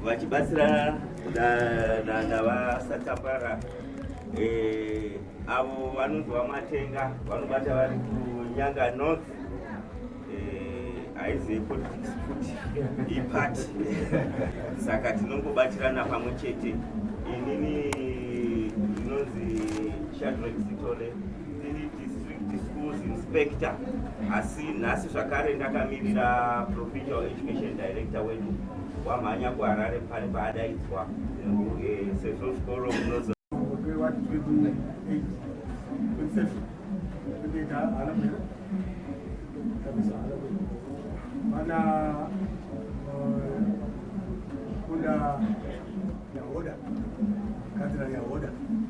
vachibatsirana navasatapara eh, avo vanonzi vamatenga vanobata vari kunyanga north haizi eh, politics futi ipati saka tinongobatirana pamwe chete inini ndinonzi shadrek sitole Ndini district schools inspector asi nhasi zvakare ndakamirira provincial education director wedu wamhanya kuharare pane paadaidzwa eh, sezvo zvikoro munozo mana kunda yahoda kadzira yahoda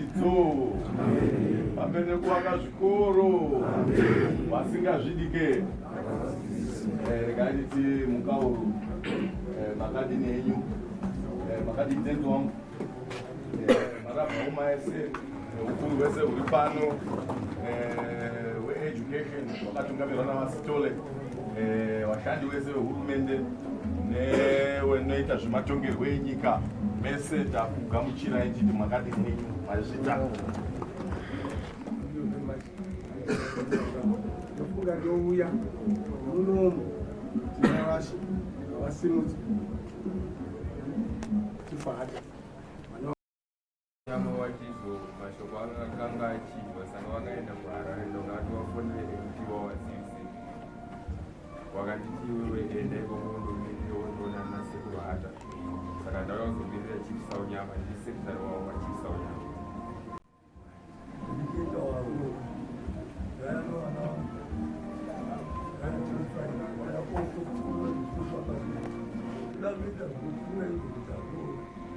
idzo vamene kuvaka zvikoro vasingazvidike eh, rekaniti mukauru eh, makadini enyu eh, makadini tenzi wangu marabhauma ese ukuru wese huri pano weeducation wakatungamirwa navasitole vashandi vese vehurumende newenoita zvematongerwo enyika mese takugamuchirai chiti makadi mwenyu mazvita ndofunga ndouya munomu tinavashe vasimudzi tifahata Chama watizo mashoko akanga achibva saka vakaenda kuharare ndoka ati wafonere mti wawasisi wakanditi iwewe enda ikoko undomirire wondoona ana sekuru hata saka ndauya kuzomirira chief saunyama ndi secretary wavo wachief saunyama Thank you.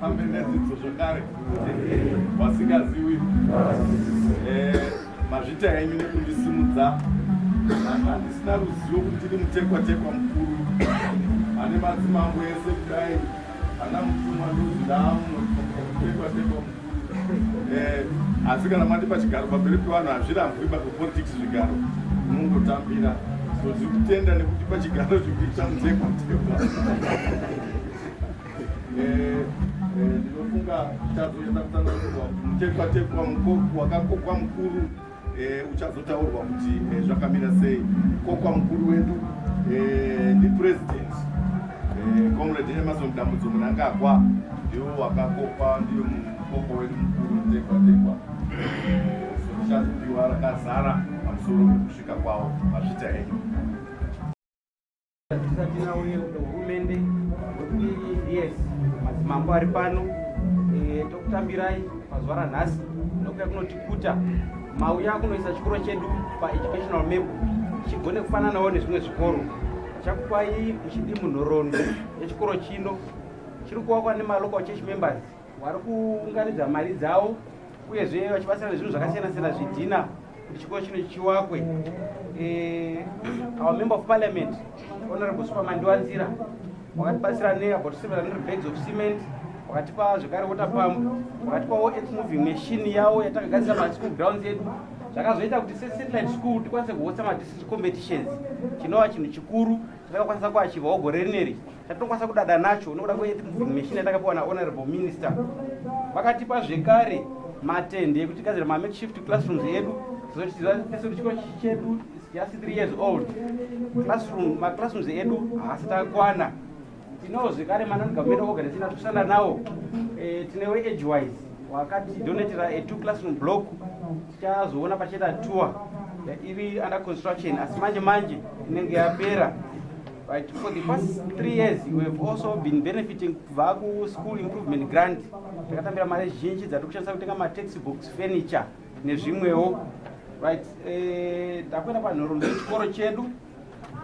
pambenedzidzo zvakare vasingaziwi eh, mazvita enyu nekundisimudza handisina ruzivo kuti ndiri mutekwatekwa mukuru ane madzimambo ese kudai Ana mutumwa ndudzi ndaamuno tekwa tekwa mukuru. Eh, asi kana mati pachigaro pamberi pevanhu hazvirambwi ba politics zvigaro unongotambira so tiri kutenda nekuti pachigaro zvikuita mutekwa tekwa. Eh, eh, ndinofunga tazoenda kutanga kuva mutekwa tekwa mukoko wakakokwa mukuru Eh, uchazotaurwa kuti eh, zvakamira sei kokwa mukuru wedu eh, ndipresident comrade emerson dambudzo munangagwa ndiwo wakakopa ndiyo mukoko wedu mukuru mutekwatekwa sotichazopiwa rakazara pamusoro pekusvika kwawo mazvita enyu Tisati nauye kuhurumende kuti yes madzimambo ari pano eh, tokutambirai pazuva ranhasi nokuya kunotikuta mauya kunoisa chikoro chedu paeducational map chigone kufananawo nezvimwe zvikoro chakupai muchidi munhoroondo yechikoro chino chiri kuvakwa nemalocal church members vari kuunganidza mari dzavo uyezve vachibatsira nezvinhu zvakasiyana siyana zvidhina kuti chikoro chino chiwakwe eh, our member of parliament honorable supermandiwa nzira wakatibatsira neabout 700 bags of cement wakatipa zvekare water pump wakatipawo earth moving machine yawo yatakagadzisa maschool grounds edu zvakazoita kuti sesatellite school tikwanise kuhotsa madistrict competitions chinova chinhu chikuru chatakakwanisa kuachivawo gore rineri chatinokwanisa kudada nacho nokuda kwemishina yatakapiwa nahonorable minister vakatipa zvekare matende ekuti tigadzira mamakeshift classrooms edu tizotizivaesuti chikoro chedu just three years old classroom maclassrooms edu haasi takwana tinawo zvekare manon government organization atikushanda nawo eh, tine weedge wise wakatidonatira a two classroom block tichazoona pachiita tour iri under construction asi manje manje inenge yapera Right, for the past three years we have also been benefiting kubva kuschool improvement grant takatambira mari zhinji dzatiri kushandisa kutenga mataxi box furniture nezvimwewo right eh, takuenda panhoroondo yechikoro chedu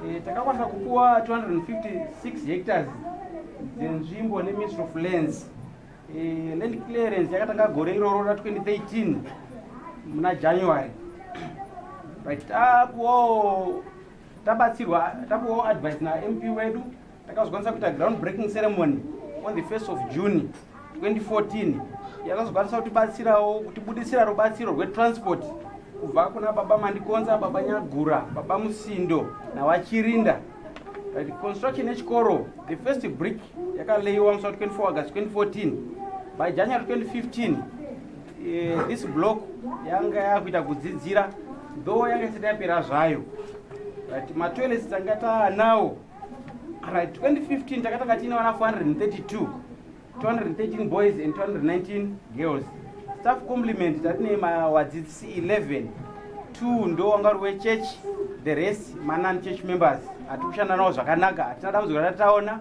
eh, takakwanisa kupuwa 256 hectares dzenzvimbo neministry of lands eh, land clearance yakatanga gore iroro ra 2013 muna january right takuwo tabatsirwa tapuwawo advice namp wedu takazokwanisa kuita ground breaking ceremony on the first of june 2014 yakazokwanisa kutibatsirawo kutibudisira rubatsiro rwetransport kubva kuna baba mandikonza baba nyagura baba musindo navachirinda the construction yechikoro the first brick yakaleyiwa musi wa 24 august 2014 by january 2015 Eh, this block yanga yakuita kudzidzira though yanga isati yapera zvayo but matoilets tanga taanawo right 2015 takatanga tiine vana 432 213 boys and 219 girls staff compliment tatine mawadzidzi 11 two ndo wanga uri wechurch the rest manani church members hatikushanda nawo zvakanaka hatina dambudziko ratataona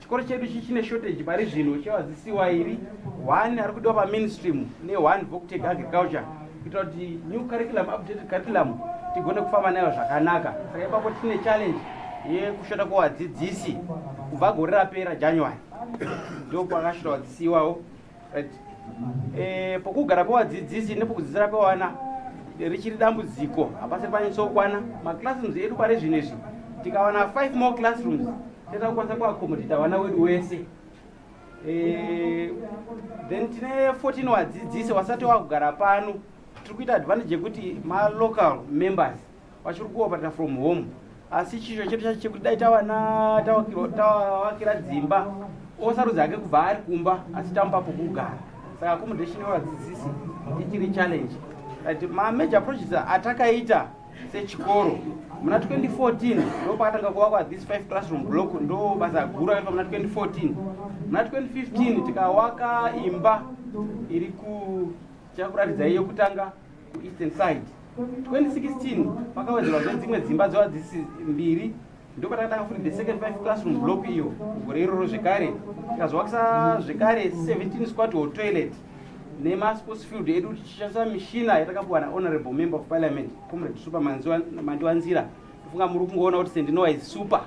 chikoro chedu ichi chine shortage pari zvino chevadzisi wairi one ari kudiwa pamainstream neone voctec agriculture kuitira kuti new curriculum updated curriculum tigone kufamba nayo zvakanaka saka ipapo tine challenge yekushota kwevadzidzisi kubva gore rapera january ndokwakashota vadzisi iwawo right eh pokugara pevadzidzisi nepokudzidzira pewana richiri dambudziko hapasi panyatsoukwana maclassrooms edu pari zvino izvi tikawana five more classrooms teta kukwanisa kuaccomodata vana wedu wese eh, then tine 14 wadzidzisi wasati wakugara pano tiri kuita advantage yekuti malocal members vachiri kuoperata from home asi chisho chedu chacho chekuti dai tawana tawakira dzimba osarudzi hake kubva ari kumba asi tamupa pokugara saka accommodation yevadzidzisi ichiri challenge but mamajor approaches atakaita sechikoro muna 2014 ndo pakatanga kuvakwa this five classroom block ndo basa guru akaitwa muna 2014 muna 2015 tikawaka imba iri kuchakuratidza iyo kutanga kuEastern side 2016 pakawedzerwa zve dzimwe dzimba dzevadzisi mbiri ndopatanga takafunda the second five classroom block iyo gore iroro zvekare tikazovakisa zvekare 17 squat or toilet nemasports field edu tichishandisa mishina yatakapuwa nahonorable member of parliament comrade super mandiwanzira tofunga muri kungoona kuti sendinowa is super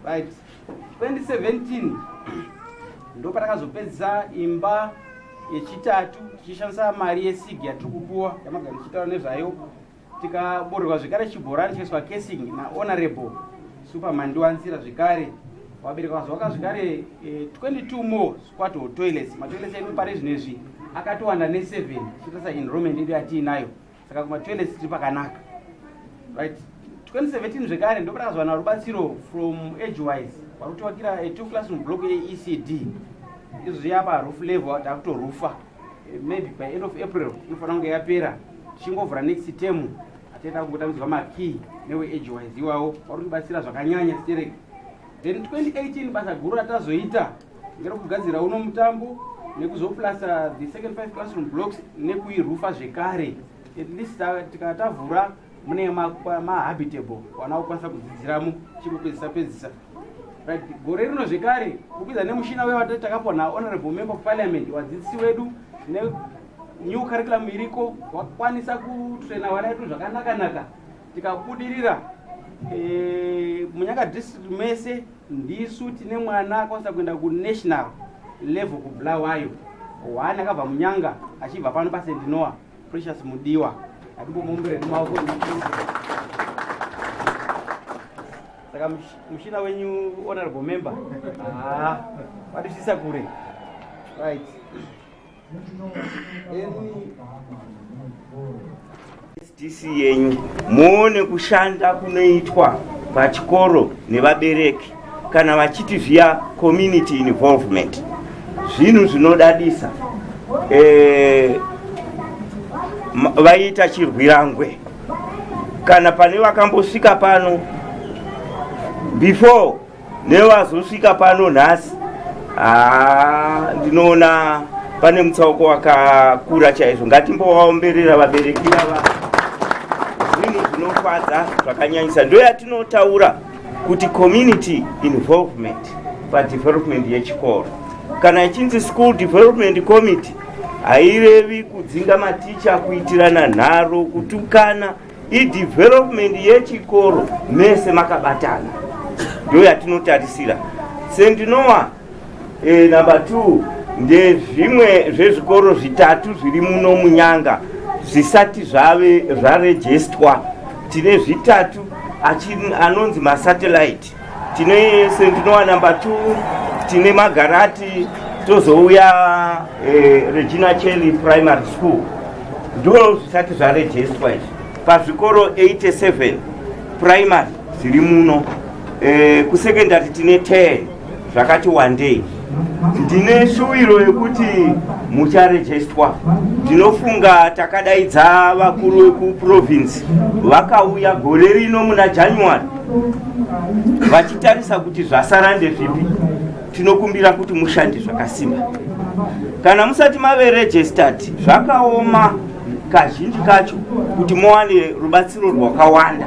right 2017 ndopatakazopedza imba yechitatu tichishandisa mari yesig yatiri kupuwa yamagara tichitaura nezvayo tikaborerwa zvekare chibhorani chikaiswa casing nahonorable superman ndiwanzira zvekare wabereka vazoaka zvekare 22 eh, more squato toilets matoilets edu pari zvino izvi akatowanda ne7 chiitasa enrollment edu yatiinayo saka kuma toilets tiri pakanaka right 2017 zvekare ndopata kazowana rubatsiro from age wise vari kutovakira a two classroom block yeecd izvo zviapa roof level takutorufa eh, maybe by end of april inofanira kunge yapera tichingovhura next term atienda kungotambidzwa makey newe age wise iwawo vari kutibatsira zvakanyanya stereki then 2018 basa guru ratazoita Ndiri kugadzira uno mutambo nekuzoplasta the second five classroom blocks nekuirufa zvekare at least tikatavhura mune mahabitable wana kukwanisa kudzidziramo chikupedzisa pedzisa right gore rino zvekare kupedza nemushina uye watati takapiwa nahonorable member of parliament wadzidzisi wedu nenew curriculum iriko wakwanisa kutraina vana vedu zvakanaka naka tikabudirira e, munyanga district mese ndisu tine mwana akwanisa kuenda kunational level kubulawayo one akabva munyanga achibva pano pasendinoa precious mudiwa atimbomumbire nemawoko saka mushina wenyu honorable member haa ah, wadisisa kure right Sdc yenyu muone kushanda kunoitwa pachikoro nevabereki kana vachiti via community involvement zvinhu zvinodadisa eh, vaiita chirwirangwe kana pane vakambosvika pano before nevazosvika pano nhasi haa ndinoona pane mutsauko wakakura chaizvo ngatimbovaomberera vabereki vava zvinhu zvinofadza zvakanyanyisa ndo yatinotaura kuti community involvement padevelopment yechikoro kana ichinzi school development committee hairevi kudzinga maticha kuitirana nharo kutukana idevelopment yechikoro mese makabatana ndo yatinotarisira sendinowa e, eh, number two ndezvimwe zvezvikoro zvitatu zviri muno munyanga zvisati zvave zvarejestwa tine zvitatu anonzi masatellite tine sendinowa number two tine magarati tozouya eh, regina chely primary school ndoo zvisati zvarejestwa izvi pazvikoro 87 primary zviri muno eh, kusecondary tine 10 zvakati wandei ndine shuwiro yekuti mucharejestwa ndinofunga takadaidza vakuru vekuprovinsi vakauya gore rino muna january vachitarisa kuti zvasara ndezvipi tinokumbira kuti mushande zvakasimba kana musati mave registered zvakaoma kazhinji kacho kuti muwane rubatsiro rwakawanda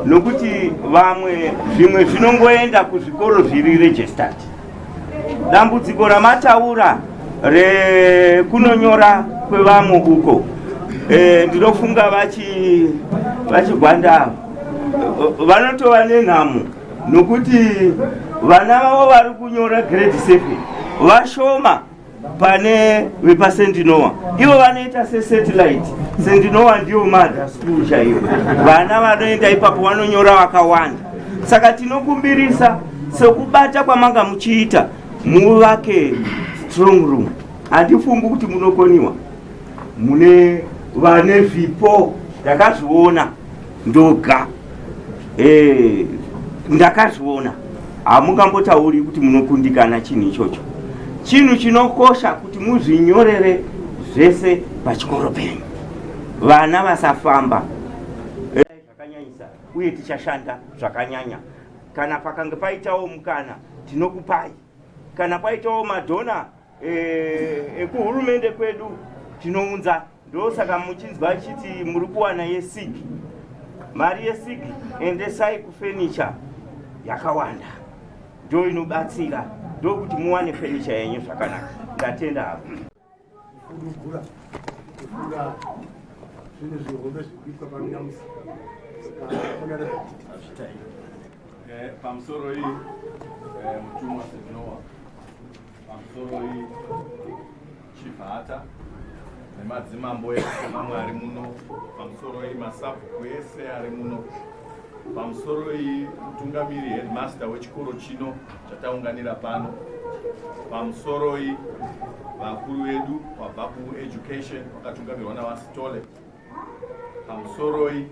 nokuti vamwe zvimwe zvinongoenda kuzvikoro zviri registered dambudziko ramataura rekunonyora kwevamwe uko e, ndinofunga vachigwanda vanotova nenhamo nokuti vana vavo vari kunyora grade 7 vashoma pane vepasendinoa ivo vanoita sesatellite sendinoa ndiyo mother school chaiyo vana vanoenda ipapo vanonyora vakawanda saka tinokumbirisa sekubata kwamanga muchiita muvake strong room handifungi kuti munokoniwa mune vane zvipo ndakazviona ndoga Eh, ndakazviona hamungambotauri kuti munokundikana chinhu ichocho chinhu chinokosha kuti muzvinyorere zvese pachikoro penyu vana vasafamba zvakanyanyisa uye tichashanda zvakanyanya kana pakange paitawo mukana tinokupai kana paitawo madhona eh, ekuhurumende kwedu tinounza ndosaka muchinzwa achiti muri kuwana yesig mari yesig endesai kufenicha yakawanda ndo inobatsira ndokuti muwane fenicha yenyu zvakanaka ndatenda hapo zvinhu zvihombe zvikuitwa paminyamusi eh, pamusoro iyi eh, mutumwa sezvinowa Pamusoroi Chivhata nemadzimambo ese mamwe ari muno, pamusoroi masabhuku ese ari muno, pamusoroi mutungamiri headmaster wechikoro chino chataunganira pano, pamusoroi vakuru vedu vabva kueducation vakatungamirwa naVaSitole, pamusoroi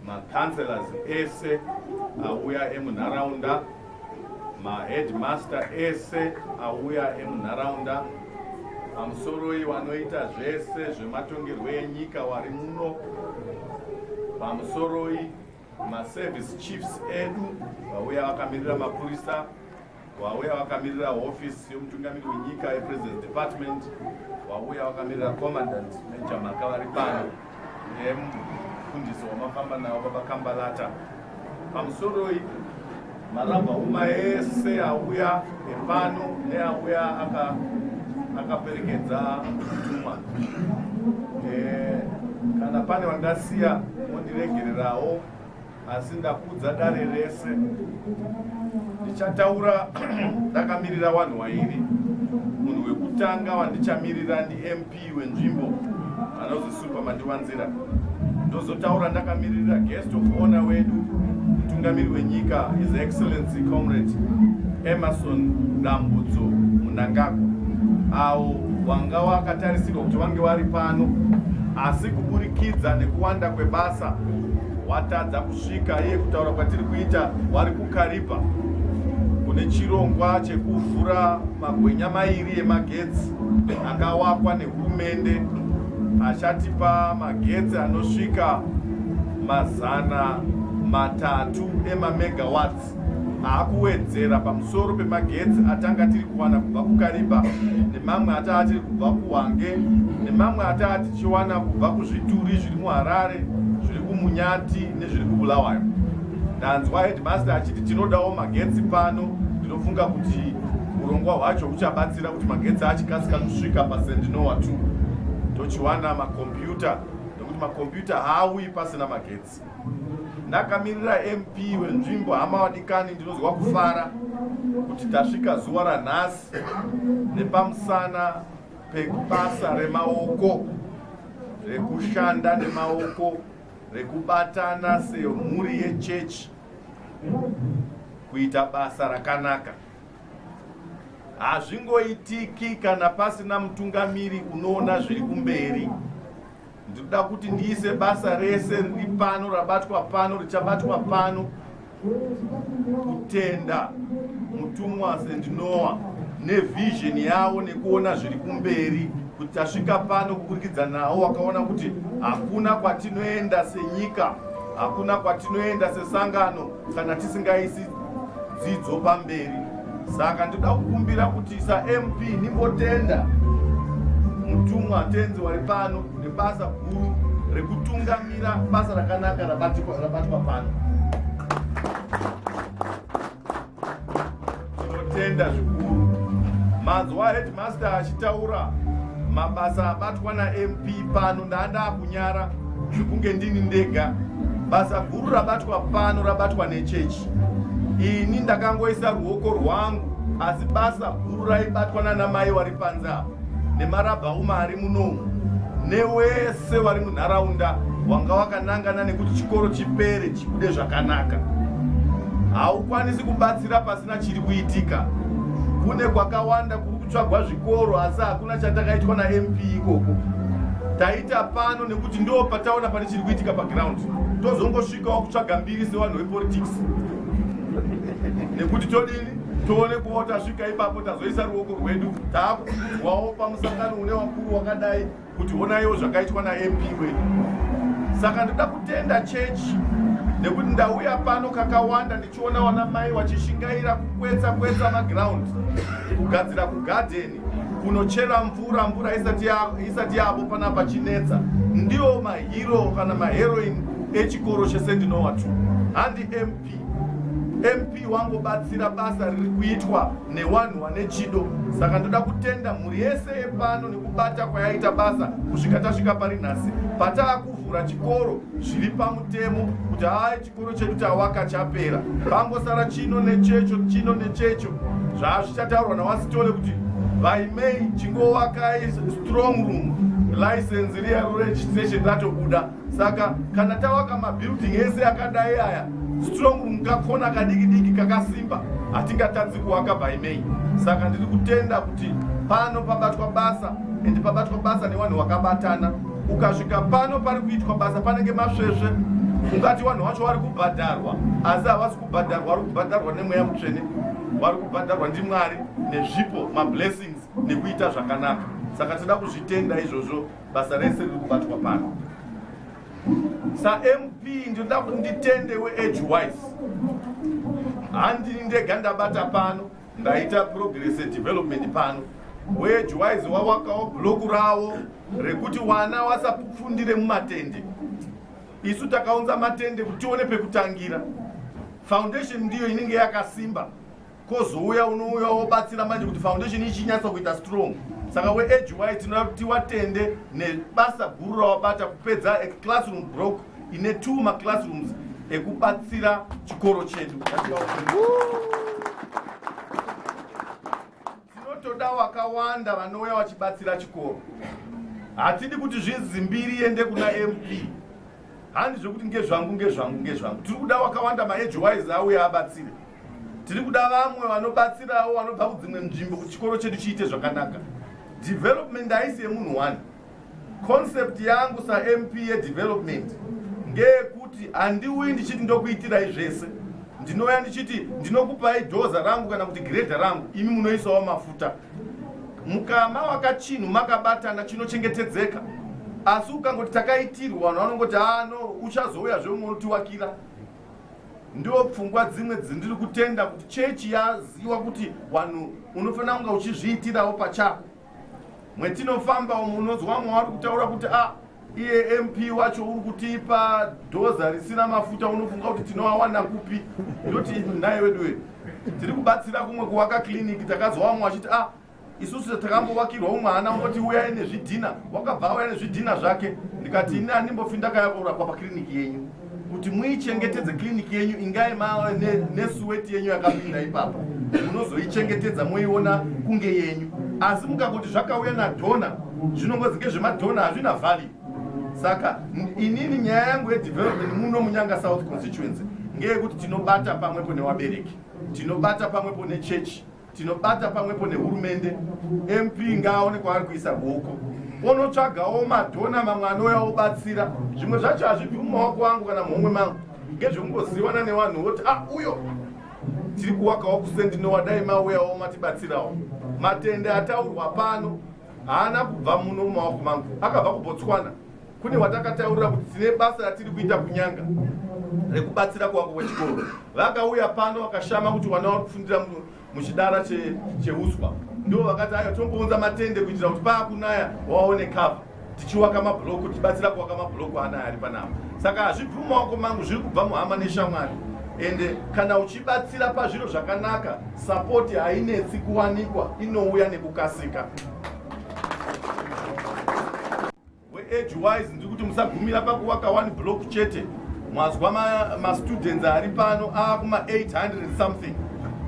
macounselors ese auya emunharaunda maheadmaster ese auya emunharaunda pamusoroi wanoita zvese zvematongerwo enyika wari muno pamusoroi maservice chiefs edu vauya vakamirira mapurisa Vauya vakamirira hofisi yomutungamiri wenyika yepresident department, vauya vakamirira commandant major mhaka vari pano nemufundisi wamafamba nawo baba kambalata pamusoroi marabha uma ese auya epano neauya akaperekedza mutumwa eh, kana pane vandasiya mondiregererawo asi ndakudza dare rese ndichataura ndakamirira vanhu wairi munhu wekutanga vandichamirira ndimp wenzvimbo anozi supa mandiwanzira ndozotaura ndakamirira guest of honor wedu mutungamiri wenyika his excellency comrade emerson dambudzo munangagwa awo wanga wakatarisirwa kuti vange vari pano asi kuburikidza nekuwanda kwebasa watadza kusvika iye kutaura kwatiri kuita wari kukaribha kune chirongwa chekuvhura magwenya mairi emagetsi akawakwa nehurumende achatipa magetsi anosvika mazana matatu emamegawats Maakuwedzera pamusoro pemagetsi atanga tiri kuwana kubva kuKariba nemamwe ataa tiri kubva kuHwange nemamwe ataa tichiwana kubva kuzvituri zviri muHarare zviri kuMunyati nezviri kuBulawayo. Ndanzwa headmaster achiti tinodawo magetsi pano ndinofunga kuti urongwa hwacho huchabatsira kuti magetsi achikasika kusvika pasendinowa 2 tochiwana makombiyuta nekuti makombiyuta haauyi pasina magetsi. Ndakamirira MP wenzvimbo hama wadikani ndinonzwa kufara kuti tasvika zuwa ranhasi nepamusana pebasa remaoko rekushanda nemaoko rekubatana semhuri yechechi kuita basa rakanaka hazvingoitiki kana pasina mutungamiri unoona zviri kumberi ndinoda kuti ndiise basa rese riri pano rabatwa pano richabatwa pano kutenda mutumwa sendinoa nevision yavo nekuona zviri kumberi kuti tasvika pano kuburikidza nawo wakaona kuti hakuna kwatinoenda senyika hakuna kwatinoenda sesangano kana tisingaisi dzidzo pamberi saka ndoda kukumbira kuti samp nimbotenda mutumwa tenzi wari pano nebasa guru rekutungamira basa rakanaka rabatwa pano tinotenda zvikuru manzwa headmaster achitaura mabasa abatwa namp pano ndandaa kunyara zvekunge ndini ndega basa guru rabatwa pano rabatwa nechechi ini ndakangoisa ruoko rwangu asi basa guru raibatwa nana mai wari panze apa nemarabhauma ari munomu newese wari munharaunda wanga wakanangana nekuti chikoro chipere chibude zvakanaka haukwanisi kubatsira pasina chiri kuitika kune kwakawanda kuri tsvagwa zvikoro asi hakuna chatakaitwa namp ikoko taita pano nekuti ndo pataona pane chiri kuitika paground tozongosvikawo kutsvaga mbiri sevanhu vepolitics nekuti todini tione kuva tasvika ipapo tazoisa ruoko rwedu taakukudzwawo pamusangano une wakuru wakadai kuti honaiwo zvakaitwa namp wedu saka ndoda kutenda chechi nekuti ndauya pano kakawanda ndichiona wana mai wachishingaira kukwetsa kwetsa maground kugadzira kugadheni kunochera mvura mvura isati yavo pana pachinetsa ndiwo mahiro kana maheroin echikoro chese ndinowa tu handi mp MP wangobatsira basa riri kuitwa newanhu wane chido saka ndoda kutenda mhuri yese yepano nekubata kwayaita basa kusvika tasvika pari nhasi pataa kuvhura chikoro zviri pamutemo kuti haa chikoro chedu tawaka chapera pangosara chino nechecho chino nechecho zvaazvichataurwa nawasitole kuti vaimei chingowakai strong room license riya ruregistration ratobuda saka kana tavaka mabuilding ese akadai aya strong room kakona kadiki diki kakasimba hatingatadzi kuwaka by may saka ndiri kutenda kuti pano pabatwa basa and pabatwa basa nevanhu vakabatana ukasvika pano pari kuitwa basa panenge masvesve ungati vanhu vacho vari kubhadharwa asi havasi kubhadharwa vari kubhadharwa nemweya mutsvene vari kubhadharwa ndimwari nezvipo mablessings nekuita zvakanaka saka tinoda kuzvitenda izvozvo basa rese riri kubatwa pano samp ndinoda kuti nditende weage wise handini ndega ndabata pano ndaita progress development pano weage wise wawakawo bloku rawo rekuti wana wasapfundire mumatende isu takaunza matende kuti tione pekutangira foundation ndiyo inenge yakasimba kozouya unouya wobatsira manje kuti foundation ichinyatsa kuita strong saka weedgy tinoda kuti watende nebasa guru rawabata kupedza eclassroom broke ine two maclassrooms ekubatsira chikoro chedu tinotoda wakawanda vanouya vachibatsira chikoro hatidi kuti zvinzi mbiri iende kuna mp handi zvekuti ngezvangu ngezvangu ngezvangu tiri kuda wakawanda maedgy wise auya abatsire tiri kuda vamwe vanobatsirawo vanobva kudzimwe nzvimbo kuti chikoro chedu chiite zvakanaka development haisi yemunhu one concept yangu samp yedevelopment ngeyekuti handiuyi ndichiti ndokuitirai zvese ndinouya ndichiti ndinokupai dhoza rangu kana kuti giredha rangu imi munoisawo mafuta mukama wakachinhu makabatana chinochengetedzeka asi ukangoti takaitirwa vanhu vanongoti ano ah, uchazouya zveumwe unoti wakira ndiwo pfungwa dzimwe dzindiri kutenda kuti chechi yaziva kuti wanhu unofanira kunga uchizviitirawo pachako mwetinofamba umu unonzwa vamwe vari kutaura kuti a ah, iye mp wacho uri kutipa dhoza risina mafuta unofunga kuti tinoawana kupi ndoti nhaye wedu wedu tiri kubatsira kumwe kuvaka kiliniki takazwa vamwe vachiti a ah, isusu takambovakirwa umwe hana ungoti uyai nezvidhina wakabva auya nezvidhina zvake ndikati ini andimbofi ndakaya kurapwa pakiriniki yenyu kuti muichengetedze kiriniki yenyu ingai mava nesuweti yenyu yakapinda ipapo munozoichengetedza moiona kunge yenyu asi mukakuti zvakauya nadhona zvinongozi ngezvemadhona hazvina vhali saka inini nyaya yangu yedevelopment muno munyanga south constituency ngeyekuti tinobata pamwepo newabereki tinobata pamwepo nechechi tinobata pamwepo nehurumende mp ngaaone kwaari kuisa ruoko onotsvagawo madhona mamwe anouya obatsira zvimwe zvacho hazvibvi mumaoko angu kana muhomwe mangu ngezvekungoziwana nevanhu voti a ah, uyo tiri kuwakawo kusendinowa dai mauyawo matibatsirawo matende ataurwa pano haana kubva muno mumaoko mangu akabva kubotswana kune watakataurira kuti tine basa ratiri kuita kunyanga rekubatsira kuwako kwechikoro vakauya pano vakashama kuti wana wari kufundira muchidara cheuswa ndo vakati ayo tombounza matende kuitira kuti paakunaya waone cover tichiwaka mabhuloku tichibatsira kuwaka mabhuloku anaya ari panapa saka hazvibvi mumaoko mangu zviri kubva muhama neshamwari ende kana uchibatsira pazviro zvakanaka sapoti hainetsi kuwanikwa inouya nekukasika Age wise ndiri kuti musagumira pakuwaka one block chete mazwa mastudents ma ari pano aakuma 800 something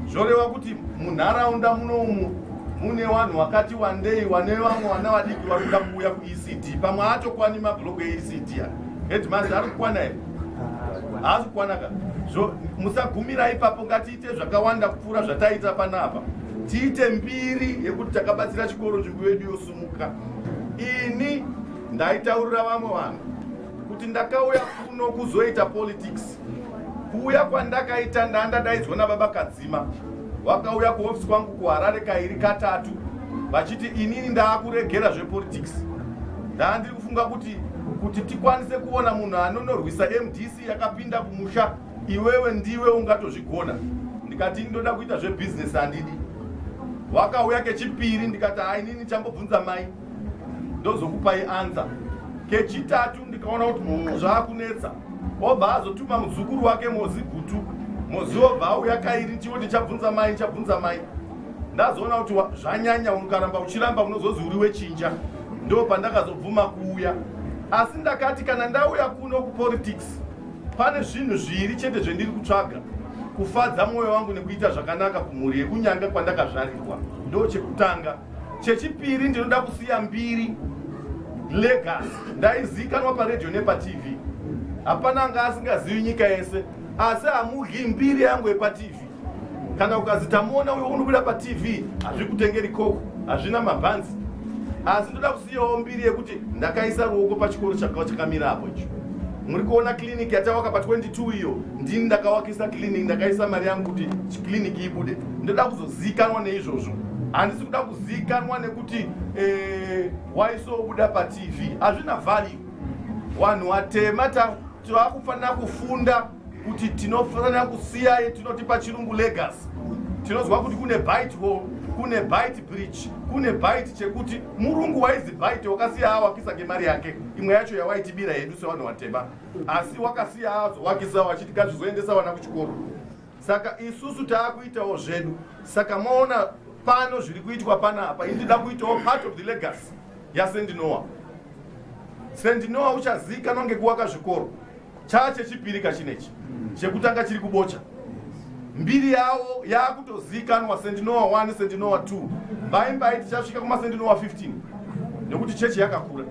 zvoreva kuti munharaunda munoumu mune vanhu vakati wandei wane vamwe vana vadiki vari kuda kuuya kuecd pamwe atokwani mablock eecd a headmaster ari kukwana here haasi kukwana ka so musagumira ipapo ngatiite zvakawanda kupfuura zvataiita panapa tiite mbiri yekuti takabatsira chikoro nzvimbo yedu yosu Muka. Ini ndaitaurira vamwe vanhu kuti ndakauya kuno kuzoita politics. Kuuya kwandakaita ndandadaidzwa nababa Kadzima. Vakauya kuhofisi kwangu kuHarare kairi katatu vachiti inini ndaakuregera zvepolitics. Ndandiri kufunga kuti kuti tikwanise kuona munhu anonorwisa MDC yakapinda kumusha iwewe ndiwe ungatozvigona ndikati ini ndoda kuita zvebusiness handidi wakauya kechipiri ndikati hainini chambobvunza mai ndozokupai ansa kechitatu ndikaona kuti mumwe zvaakunetsa obva azotuma muzukuru wake mozi gutu mozi obva auya kairi chivo ndichabvunza mai chabvunza mai ndazoona kuti zvanyanya unokaramba uchiramba unozozi uri wechinja ndo pandakazobvuma kuuya asi ndakati kana ndauya kuno kupolitics Pane zvinhu zviri chete zvendiri kutsvaga, kufadza mwoyo wangu nekuita zvakanaka kumhuri yekuNyanga kwandakazvarirwa, ndo chekutanga. Chechipiri ndinoda kusiya mbiri, legacy. Ndaizikanwa paredhiyo nepaTV, hapana anga asingazivi nyika yese, asi hamudyi mbiri yangu yepaTV. kana ukazi tamuona uyo unobuda patv hazvikutengeri koko hazvina mabhanzi asi ndoda kusiyawo mbiri yekuti ndakaisa ruoko pachikoro chakamira apo icho muri kuona clinic yatawaka pa 22 iyo ndini ndakawakisa clinic ndakaisa mari yangu kuti clinic ibude ndoda kuzozikanwa neizvozvo handisi kuda kuzikanwa nekuti eh, waisobuda patv hazvina value wanhu watema takufanira kufunda kuti tinofanira kusiyai tinoti pachirungu legacy tinonzwa kuti kune bite hall kune bite bridge kune bite chekuti murungu waizi bite wakasiya awakisa ngemari yake imwe yacho yawaitibira yedu sevanhu vatema asi wakasiya azowakisa wachiti gazvizoendesa vana kuchikoro saka isusu taakuitawo zvedu saka moona pano zviri kuitwa panapa ini ndida kuitawo part of the legacy yasendinowa sendinowa uchaziikanwa ngekuwaka zvikoro Chaa chechipiri ka chinechi chekutanga chiri kubocha mbiri yavo yakutozikanwa sendinowa 1 sendinowa 2 mbai mbai tichasvika kumasendinowa 15 nekuti chechi yakakura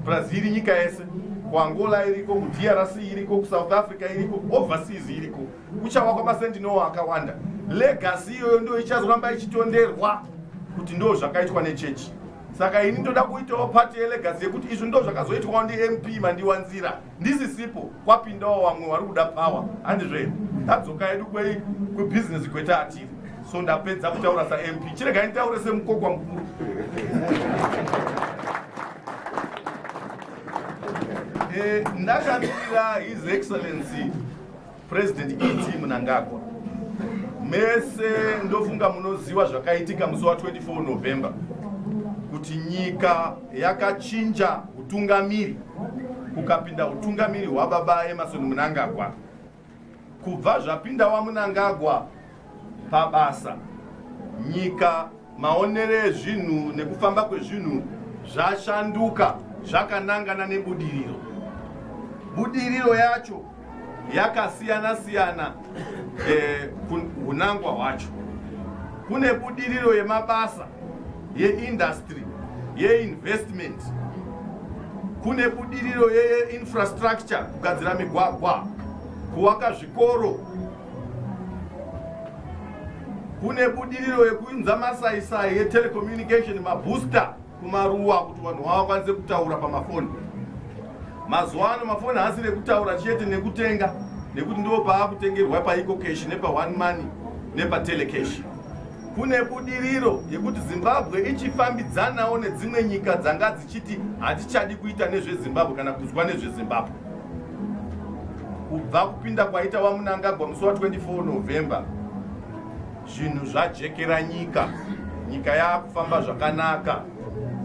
brazil iri nyika yese kuangola iriko kudrc iriko kusouth africa iriko overseas iriko kuchawa kwamasendinowa akawanda legasi iyoyo ndo ichazoramba ichitonderwa kuti ndo zvakaitwa nechechi saka ini ndoda kuitawo pati yelegasi yekuti izvi ndo zvakazoitwawo ndimp mandiwanzira ndisisipo kwapindawo vamwe vari kuda power handizve tadzoka yedu kwei kwebusiness kweta atiri so ndapedza kutaura samp chiregai nditaure semukokwa mukuru eh, ndakamirira his excellency President ED Mnangagwa, mese ndofunga munoziva zvakaitika musi wa 24 November kuti nyika yakachinja utungamiri kukapinda utungamiri hwababa Emerson Mnangagwa. Kubva zvapinda waMnangagwa pabasa, nyika, maonere ezvinhu nekufamba kwezvinhu zvashanduka zvakanangana nebudiriro. Budiriro yacho yakasiyana siyana eh, hunangwa hwacho. Kune budiriro yemabasa, yeindustry, yeinvestment, kune budiriro yeinfrastructure, kugadzira migwagwa, kuvaka zvikoro kune budiriro yekuinza masaisai etelecommunication mabooster kumaruwa kuti vanhu vavakwanise kutaura pamafoni mazuva ano mafoni haasi nekutaura chete nekutenga nekuti ndivo paakutengerwa paiko cash nepa one money nepa telecash kune budiriro yekuti zimbabwe ichifambidzanawo nedzimwe nyika dzanga dzichiti hatichadi kuita nezvezimbabwe kana kuzwa nezvezimbabwe kubva kupinda kwaita wamunangagwa musi wa 24 november zvinhu zvajekera nyika nyika yaakufamba zvakanaka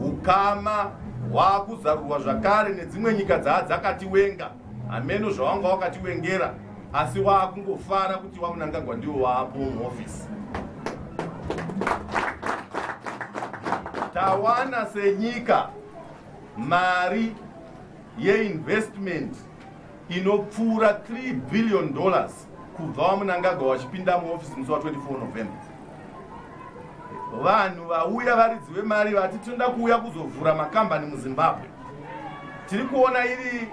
ukama hwaakuzarurwa zvakare nedzimwe nyika dzaa dzakatiwenga hameno zvawanga wakatiwengera asi waakungofara kuti wamunangagwa ndiwo waapo muhofisi tawana senyika mari yeinvestment inopfuura 3 billion dollars kubva wamunangagwa wachipinda muofisi musi wa 24 november vanhu vauya varidzi vemari vati tinoda kuuya kuzovhura makambani muzimbabwe tiri kuona iri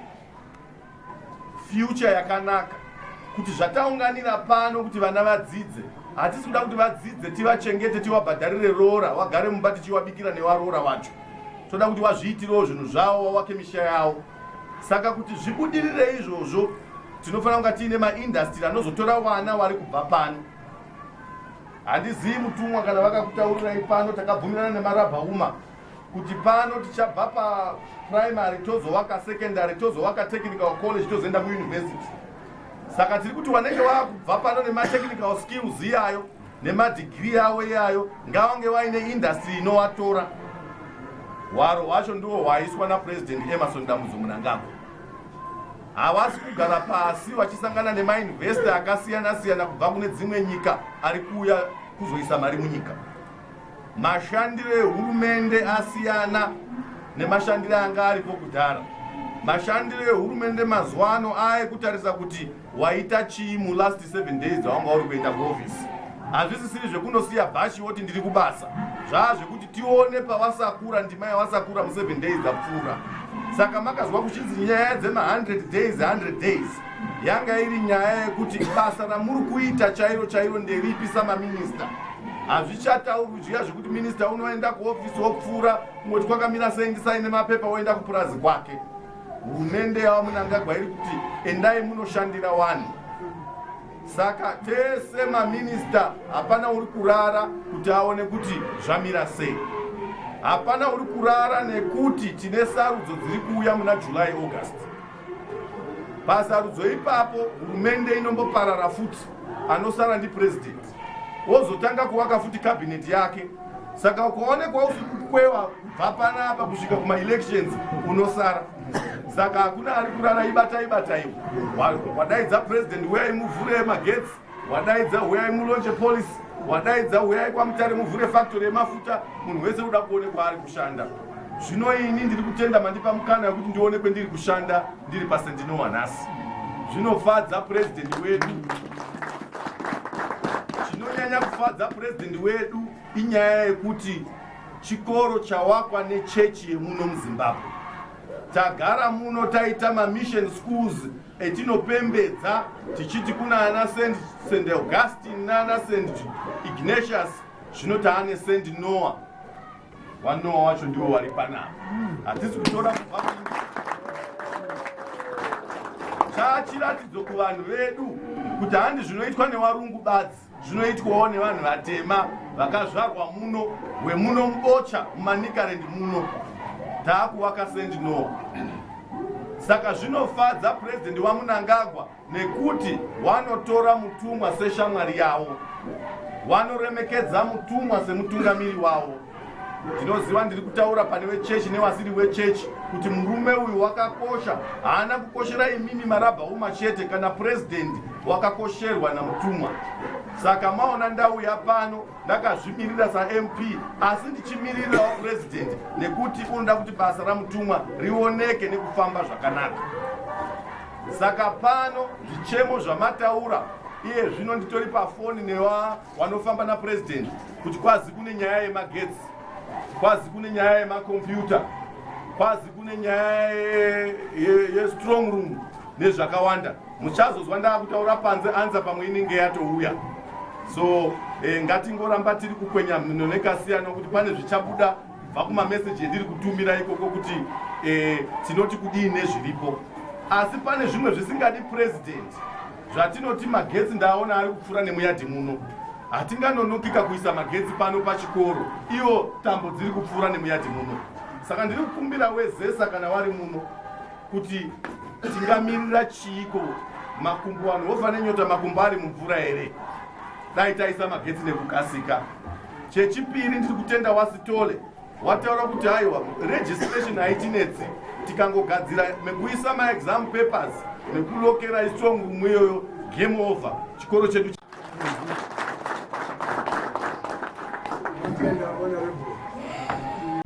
future yakanaka kuti zvataunganira pano kuti vana vadzidze hatisi kuda kuti vadzidze tivachengete tivabhadharire roora wagare mumba tichiwabikira newaroora wacho toda kuti wazviitirewo zvinhu zvawo wawake misha yawo saka kuti zvibudirire izvozvo tinofanira kunga tiine maindastiri anozotora vana wari kubva pano handizivi mutumwa kana vakakutaurirai pano takabvumirana nemarabha uma kuti pano tichabva paprimary tozovaka secondary tozovaka technical college tozoenda muuniversity saka tiri kuti wanenge wakubva pano nematechnical skills iyayo nemadhigirii avo iyayo ngavange vaine indastry inovatora hwaro hwacho ndiwo hwaiswa napurezidendi emerson dambudzo munangagwa havasi kugara pasi vachisangana nemainvesta akasiyana siyana kubva kune dzimwe nyika ari kuuya kuzoisa mari munyika mashandiro ehurumende asiyana nemashandiro anga aripo kudhara mashandiro ehurumende mazuva ano aekutarisa kuti waita chii mulast 7 days dzawanga uri kuenda kuofisi hazvisisiri zvekunosiya bhashi woti ndiri kubasa zvaa zvekuti tione pavasakura ndima yavasakura mu7 days dzapfuura saka makazwa kuchinzi nyaya dzema100 days 100 days yanga iri nyaya yekuti basa ramuri kuita chairo chairo nderipi samaminista hazvichataurwi zviya zvekuti minista unoenda kuofisi wopfuura kungoti kwakamira sei ndisaine mapepa woenda kupurazi kwake Hurumende yaVaMnangagwa iri kuti endai munoshandira vanhu saka tese maminista hapana uri kurara kuti aone kuti zvamira sei hapana uri kurara nekuti tine sarudzo dziri kuuya muna july august pasarudzo ipapo hurumende inomboparara futi anosara ndipurezidendi wozotanga kuvaka futi cabinet yake saka ukaonekwa usiri kukwewa kubva panapa kusvika kumaelections unosara saka hakuna ari kurara ibatai bataiwo wadaidza president huyai muvhure magetsi wadaidza huyai mulonche policy wadaidza huyai kwamutare muvhure factory yemafuta munhu wese uda kuonekwa ari kushanda zvino ini ndiri kutenda mandipa mukana yekuti ndionekwe ndiri kushanda ndiri pasendinowa nhasi zvinofadza president wedu Chinonyanya kufadza purezidhendi wedu inyaya yekuti chikoro chawakwa nechechi yemuno muzimbabwe tagara muno taita mamission schools etinopembedza tichiti kuna ana st augustine naana st ignatius zvino taane st noah Vanowa wacho ndiwo wari panapa. Hatisi kutora kubva chaachiratidzo kuvanhu vedu kuti handi zvinoitwa newarungu badzi zvinoitwawo nevanhu vatema vakazvarwa muno wemuno mubocha mumanikarendi muno taakuvaka sendinowa saka zvinofadza purezidendi wamunangagwa nekuti wanotora mutumwa seshamwari yawo wanoremekedza mutumwa semutungamiri wawo ndinoziva ndiri kutaura pane vechechi nevasiri wechechi kuti murume uyu wakakosha haana kukoshera imimi marabha uma chete kana purezidendi wakakosherwa namutumwa saka maona ndauya pano ndakazvimirira samp asi ndichimirirawo purezidendi nekuti unoda kuti basa ramutumwa rioneke nekufamba zvakanaka Saka pano zvichemo zvamataura iye zvino nditori pafoni newa wanofamba napurezidendi kuti kwazi kune nyaya yemagetsi kwazi kune nyaya yemakombiyuta kwazi kune nyaya yestrong room nezvakawanda muchazozwa ndaakutaura panze anza pamwe inenge yatouya so eh, ngatingoramba tiri kukwenya mhino nekasiyana kuti pane zvichabuda bva kumameseji endiri kutumira ikoko kuti eh, tinoti kudii nezviripo asi pane zvimwe zvisingadi purezidhendi zvatinoti magetsi ndaaona ari kupfuura nemuyadhi muno hatinganonokika kuisa magetsi pano pachikoro iwo tambo dziri kupfuura nemuyadhi muno saka ndiri kukumbira wezesa kana wari muno kuti tingamirira chiiko makumbo vanhu vofa nenyota makumbo ari mumvura here dai taisa magetsi nekukasika Chechipiri ndiri kutenda waSithole wataura kuti haiwa registration haitinetsi tikangogadzira mekuisa maexam papers nekulokera istrong room iyoyo game over chikoro chedu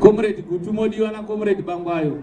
Comrade Gutu modiwa na Comrade Bangwayo.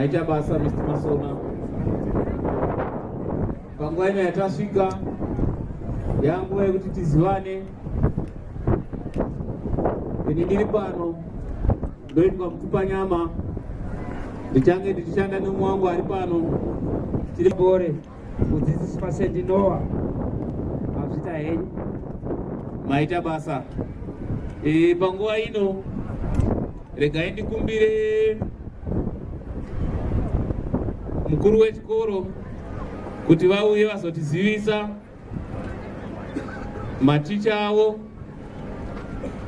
maita basa Mr. Masona. Panguva ino yatasvika yanguva yekuti tizivane ini ndiri pano ndoitwa mupfupanyama ndichange ndichishanda nemwe wangu ari pano tiri gore mudzidzisi pasendi noa mazvita henyu maita basa e, panguva ino regai ndikumbire mukuru wechikoro kuti vauye vazotizivisa maticha avo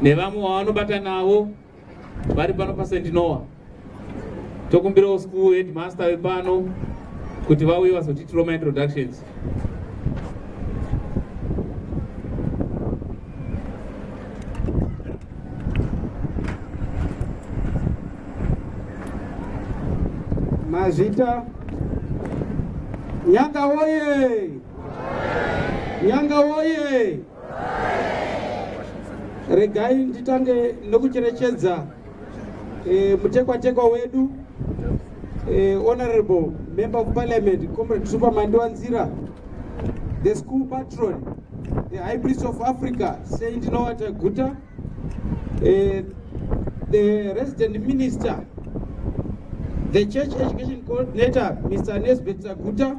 nevamwe vavanobata navo vari pano paSt Noah. Tokumbirawo school headmaster vepano kuti vauye vazotiitirawo maintroductions. Mazvita Nyanga woye! Nyanga woye! Regai nditange nokucherechedza e, mutekwatekwa wedu e, Honorable Member of Parliament Comrade Super Mandiwa Nzira, the school patron, the High Priest of Africa Saint Noah Taguta, e, the resident minister, the church education coordinator Mr. Nesbeth Taguta,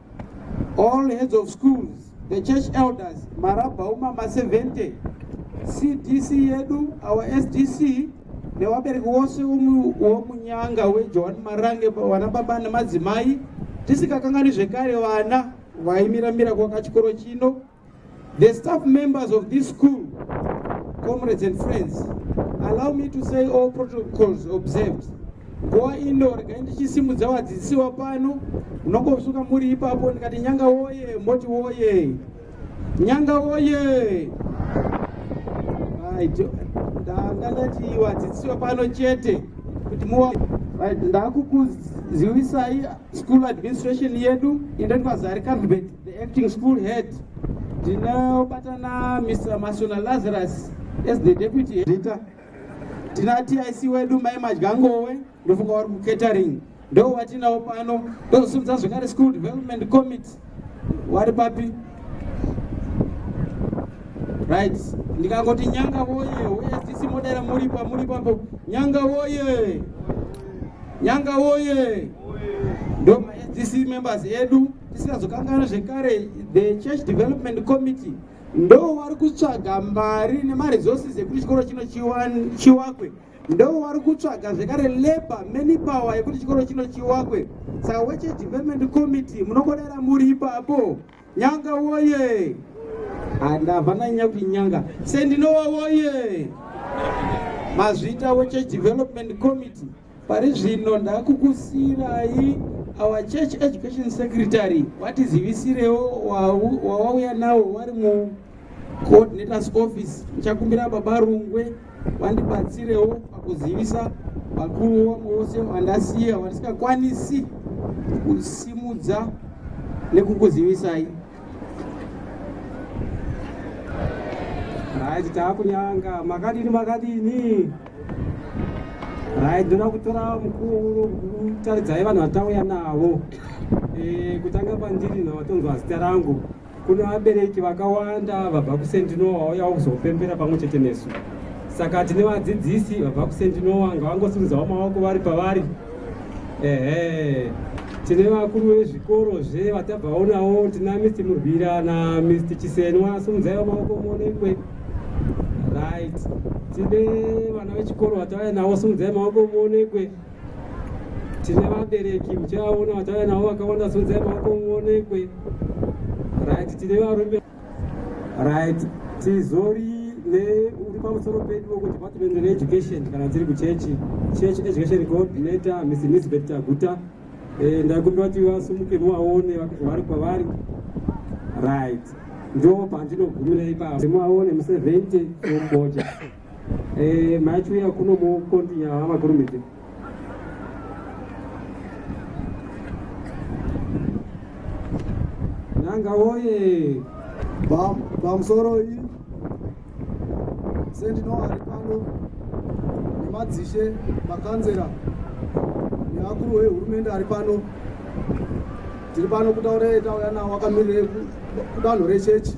all heads of schools the church elders marabhauma ma 70 cdc yedu our sdc nevabereki wose womunyanga wejohani marange vana baba nemadzimai tisikakanganwi zvekare vana vaimiramira kwakachikoro chino The staff members of this school, comrades and friends, allow me to say all protocols observed. Goa indo regai ndichisimudza vadzidzisiwa pano munongosuka muri ipapo ndikati nyanga woye moti woye nyanga woye ndanga ndati vadzidzisiwa pano chete kuti muwa right, ndakukuzivisai school administration yedu endani kwazari carvet the acting school head ndinobatana mr masona lazarus as the deputy headita tina tic wedu mai madyangowe ndofunga wari kucatering ndo watinawo pano ndozosimudza zvekare school development committee wari papi right ndikangoti nyanga woye woye sisi modera muri pamuri papo nyanga woye nyanga woye ndo sisi members edu tisingazokanganwa zvekare the church development committee ndo wari kutsvaga mari nemaresources ekuti chikoro chino chiwakwe ndo wari kutsvaga zvekare labor many power yekuti chikoro chino chiwakwe saka weche development committee munokodera muri ipapo nyanga woye handava nanyanya kuti nyanga sendinowa woye mazvita weche development committee pari zvino ndakukusiirai our church education secretary vatizivisirewo wawauya nawo wari mu coordinators office ndichakumbira baba rungwe vandibatsirewo pakuzivisa vakuru wangu vose vandasiya vandisingakwanisi kusimudza nekukuzivisai right taakunyanga makadini makadini right ndoda kutora mukuru kutaridzai vanhu vatauya navo eh, kutanga pandiri navatonzwa zita rangu Kune vabereki vakawanda vabva kuSendinowa vauyawo kuzopembera pamwe chete nesu. Saka tine vadzidzisi vabva kuSendinowa ngavangosimudzawo maoko vari pavari. Ehe. Tine vakuru vezvikoro zve vatabvaonawo tina Mr Murwira na Mr Chisenwa sumudzaiwo maoko muonekwe. Right. Tine vana vechikoro vatauya nawo sumudzai maoko muonekwe. tine vabereki muchaona vachauya navo vakawanda sunzai maoko muonekwe right tine varume right tizori neuri pamusoro pedu wekudepartment reeducation kana tiri kuchechi church education coordinator miss elizabeth taguta eh, ndakumbira kuti vasumuke muvaone vari kwavari right ndo pandinogumira ipapo muvaone mu 70 omboja Eh, macho ya kuno mu continue ha makurumidze. Nanga woye. Bam, bam soro yi. Sendi no ari pano. Ni madzishe makanzera. Ni akuru we hurumende ari pano. Tiri pano kutaura eta yana wakamirira kudanho rechechi.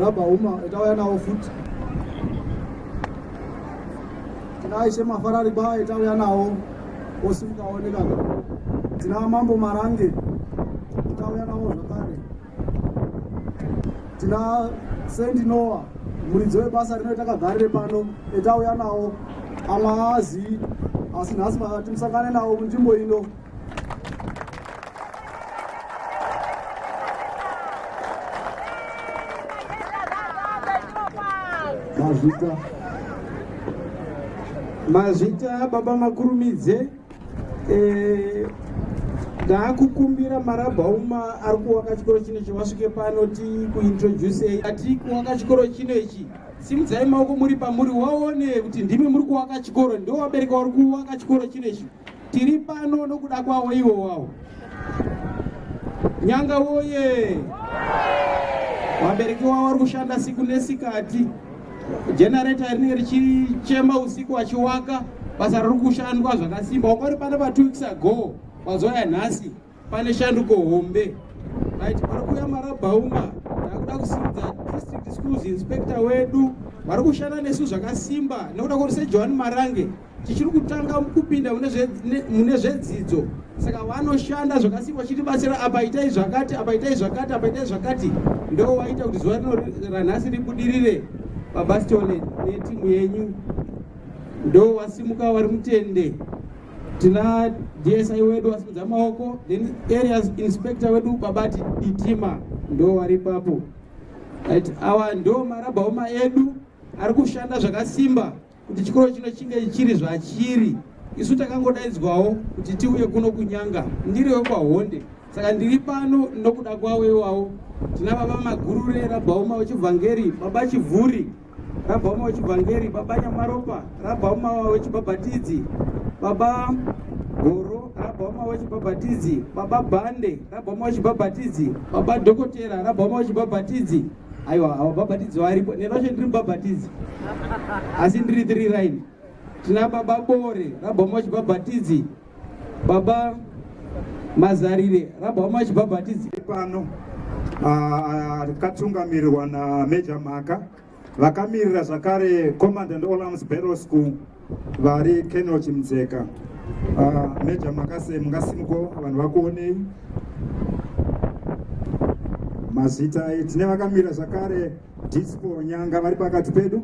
Rabha uma itauya nawo futi. Tinaa ishe mafarari ba itauya nawo osimukaoneka. Tinaa mambo marange itauya nawo zvakare. Tinaa sendi noa muridzi webasa rino itakagarire pano itauya nawo amaazi asi nhasi timusangane nawo munzvimbo ino. mazvita mazvita baba makurumidze eh, ndaakukumbira marabhauma ari kuwaka chikoro chino ichi wasvike pano ti kuintroducei ati kuwaka chikoro chino ichi simudzai maoko muri pamuri waone kuti ndimi muri kuwaka chikoro ndo wabereka uri kuwaka chikoro chino ichi Tiri pano nokuda kwawo iwo wawo. Nyanga woye! Vabereki wavo vari kushanda siku nesikati. Generator rinenge richichema usiku vachiwaka basa riri kushandwa zvakasimba. Wanga uri pano pa two weeks ago, wazoya nhasi. pane shanduko hombe right pari kuuya marabhauma takuda kusimudza district schools inspector wedu vari kushanda nesu zvakasimba nekuda kwekuti sejohani marange tichiri kutanga kupinda mune zvedzidzo saka vanoshanda zvakasimba chitibatsira apa itai zvakati apa itai zvakati apa itai zvakati ndo waita kuti zuva rino ranhasi ribudirire babastion netimu yenyu ndo wasimuka wari mutende tina dsi wedu wasimudza maoko then areas inspector wedu babati ditima ndo wari papo right awa ndo marabhaoma edu ari kushanda zvakasimba kuti chikoro chino chinge chiri zvachiri isu takangodaidzwawo kuti tiuye kuno kunyanga ndiri wekwahonde saka ndiri pano nokuda kwavo iwawo tina baba magurure rabhaoma wechivhangeri baba chivhuri Rabba umwe wechivhangeri, baba Nyamaropa, rabba umwe wechibhabhatidzi, baba Goro, rabba umwe wechibhabhatidzi, baba Bande, rabba umwe wechibhabhatidzi, baba Dhokotera, rabba umwe wechibhabhatidzi. Aiwa, avo bhabhatidzi varipo, nenoshe ndiri mubhabhatidzi, asi ndiri three line. Tina baba Bore, rabba umwe wechibhabhatidzi, baba mazarire rabhama vachibhabhatidzi pano ah, akatungamirirwa na major mhaka vakamirira zvakare command and olams battle school vari kenel chimdzeka ah, major mhaka se mungasimuko vanhu vakuonei mazita tine vakamirira zvakare dispo nyanga vari pakati pedu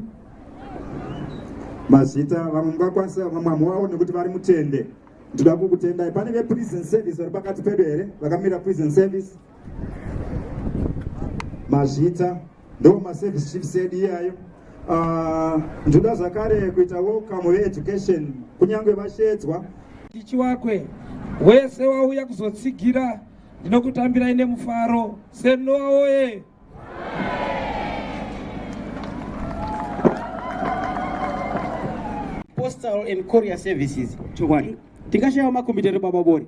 mazita vamwe mungakwanisa vamwe vamwe nekuti vari mutende ndinoda kukutendai pane veprison service vari pakati pedu here vakamira prison service mazvita ndo maservice chiefs edu iyayo ah, ndinoda zvakare kuita welcome veeducation kunyange vashedzwa tichi wakwe wese wauya kuzotsigira ndinokutambirai nemufaro senoa woye postal and courier services chokwadi tingashaiwa makombiyuta ere baba bori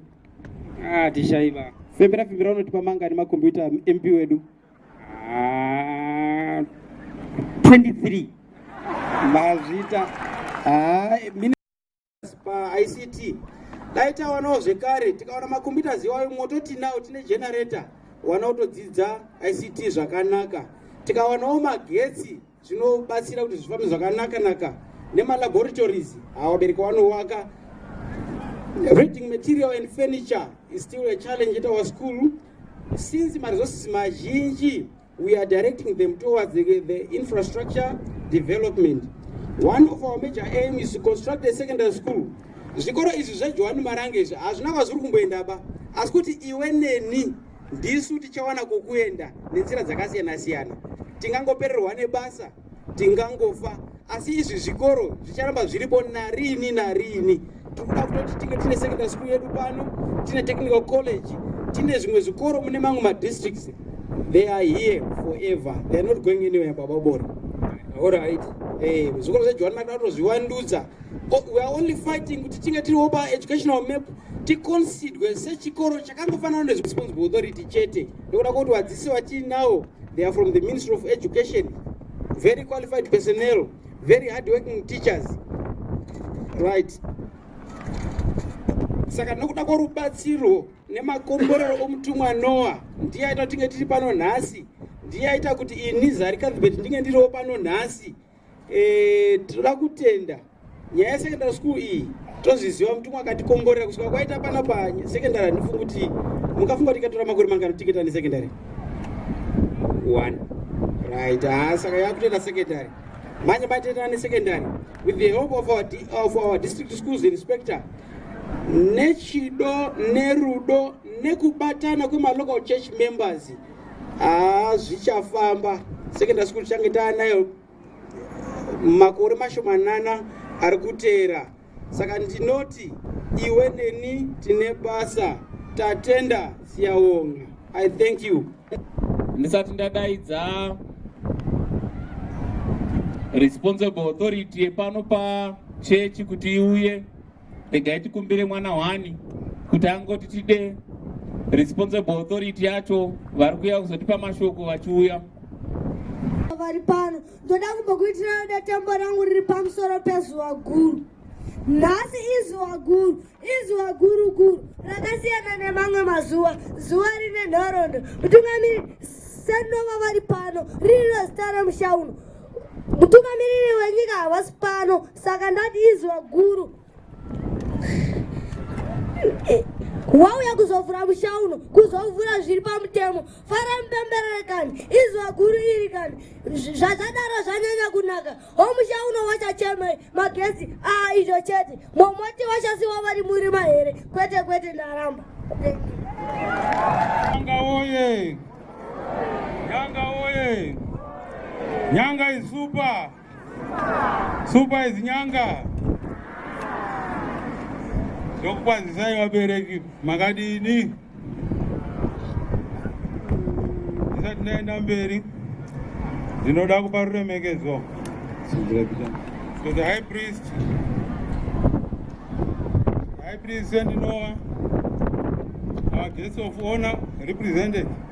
ah tishaiva fembera fembera unotipa mangani makombiyuta mp wedu ah 23 mazvita ah paict dai tawanawo zvekare tikawana macomputers iwayo moto tinawo tine generator wana kutodzidza ict zvakanaka tikawanawo magetsi zvinobatsira kuti zvifambe zvakanaka naka nemalaboratories awabereki wanowaka reading material and furniture is still a challenge at our school since maresources mazhinji We are directing them towards the, the infrastructure development. One of our major aim is to construct a secondary school. Zvikoro izvi zveJohani Marange izvi hazvina kwazviri kumboenda ba asi kuti iwe neni ndisu tichawana kokuenda nenzira dzakasiyana siyana tingangopererwa nebasa tingangofa asi izvi zvikoro zvicharamba zviripo narini narini tikuda kutoti tinge tine secondary school yedu pano tine technical college tine zvimwe zvikoro mune mamwe madistricts they are here forever they are not going anywhere baba bori orit eh, zvikoro zvejohani makuda kutozviwandudza oh, we are only fighting kuti tinge tiriwo paeducational map ticonsidwe sechikoro chakangofanana nezvisponsble authority chete nekuda kuti vadzisi vatiinawo They are from the Ministry of Education. Very qualified personnel, very hardworking teachers. Right. Saka nokuda kworubatsiro nemakomborero omutumwa Noa ndiye aita kuti tinge tiri pano nhasi, ndiye aita kuti ini Zari Cuthbert ndinge ndiriwo pano nhasi. Eh, tinoda kutenda nyaya yesecondary school iyi tozviziva mutumwa akatikomborera kusvika kwaita pana pasecondary handifungi kuti mukafunga kuti ikatora makore mangano tiketa nesecondary one right haa ah, saka yakutoenda secondary manje matetana nesecondary with the help of our, of our district schools inspector nechido nerudo nekubatana kwemalocal church members haa zvichafamba secondary school tichange taanayo makore mashomanana ari kutera saka ndinoti iwe neni tine basa tatenda siyawonga i thank you ndisati ndadaidza responsible authority yepano pachechi kuti iuye regai tikumbire mwana hwani kuti angoti tide responsible authority yacho vari kuuya kuzotipa mashoko vachiuya vari pano ndoda kumbokuitirana netembo rangu riri pamusoro pezuva guru nhasi izuva guru izuva guru guru rakasiyana nemamwe mazuva zuva rine nhorondo mutungamiri senova vari pano riri rezita remusha uno mutungamiriri wenyika havasi pano saka ndati izwa guru wauya kuzovhura musha uno kuzovhura zviri pamutemo fara mupemberere kani izwa guru iri kani zvazadaro zvanyanya kunaka homusha uno wachachemei magezi a ah, izvo chete momoti wachasiwa vari murima here kwete kwete ndaramba nyanga oye nyanga oye nyanga isupa Super is nyanga. Ndokukwazisai vabereki makadini? Ndisati ndaenda mberi ndinoda kupa ruremekedzo to the high priest high priest sendinoa our guest of honor represented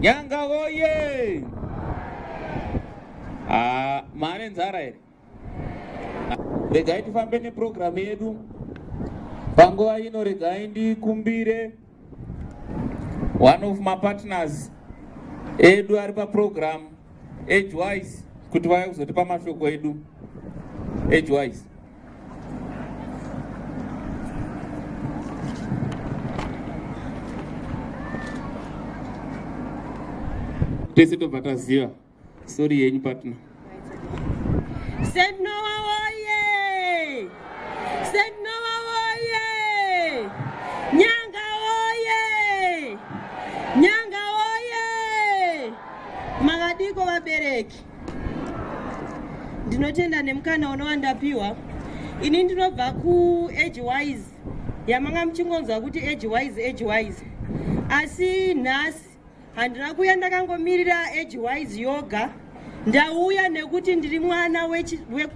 Nyanga oye! Ah, mane nzara here? Regai tifambe neprogramu yedu. Panguva ino regai ndikumbire one of mapartners edu ari paprogramu edgewise kuti vauya kuzotipa mashoko edu edgewise. tese tobva taziva sori yenyu patna senoa woye senoa woye nyanga woye nyanga woye makadiko vabereki ndinotenda nemukana unowandapiwa ini ndinobva kuage wise yamanga muchingonzwa kuti age wise age wise asi nhasi handina kuuya ndakangomirira age wise yoga ndauya nekuti ndiri mwana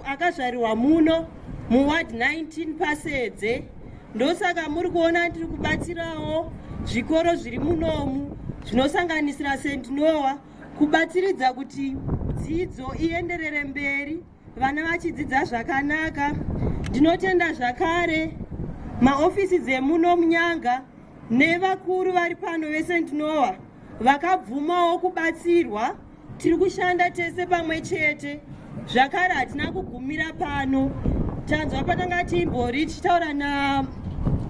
akazvarirwa muno muward 19 pasedze ndosaka muri kuona ndiri kubatsirawo zvikoro zviri munomu zvinosanganisira st noa kubatsiridza kuti dzidzo ienderere mberi vana vachidzidza zvakanaka ndinotenda zvakare maofisi dzemuno munyanga nevakuru vari pano vesent noa vakabvumawo kubatsirwa tiri kushanda tese pamwe chete zvakare hatina kugumira pano tanzwa patanga timbori tichitaura na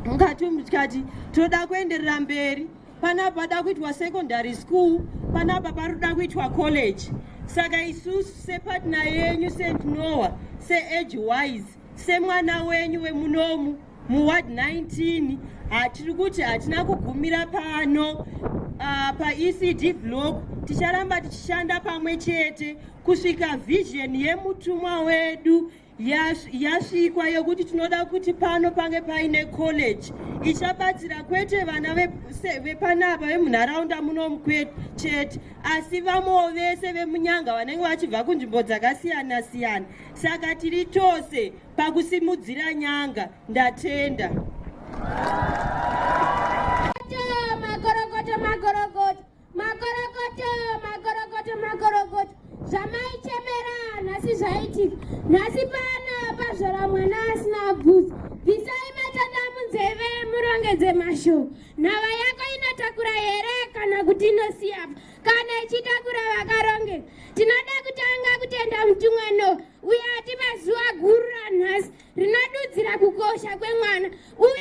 mukati mukati toda kuenderera mberi panapa pada kuitwa secondary school panapa pari kuda kuitwa college saka isusu sepatna yenyu st noa seage wise semwana wenyu wemunomu muward 19 hatiri kuti hatina kugumira pano uh, paecd block ticharamba tichishanda pamwe chete kusvika vhizheni yemutumwa wedu yasvikwa yekuti tinoda kuti pano pange paine college ichabatsira kwete vana vepanapa vemunharaunda munomu chete asi vamwewo vese vemunyanga vanenge vachibva kunzvimbo dzakasiyana siyana saka tiri tose pakusimudzira nyanga ndatenda Makorokoto, makorokoto, makorokoto. Zvamaichemera nhasi zvaitika. Nhasi pana pazvora mwana asina bvudzi. Bvisai matanda munzeve murongedze mashoko. Nhava yako inotakura here kana kuti inosiyapa? Kana ichitakura vakarongeka. Tinoda kutanga kutenda mutumwa Noa uye atipa zuva guru ranhasi rinodudzira kukosha kwemwana uye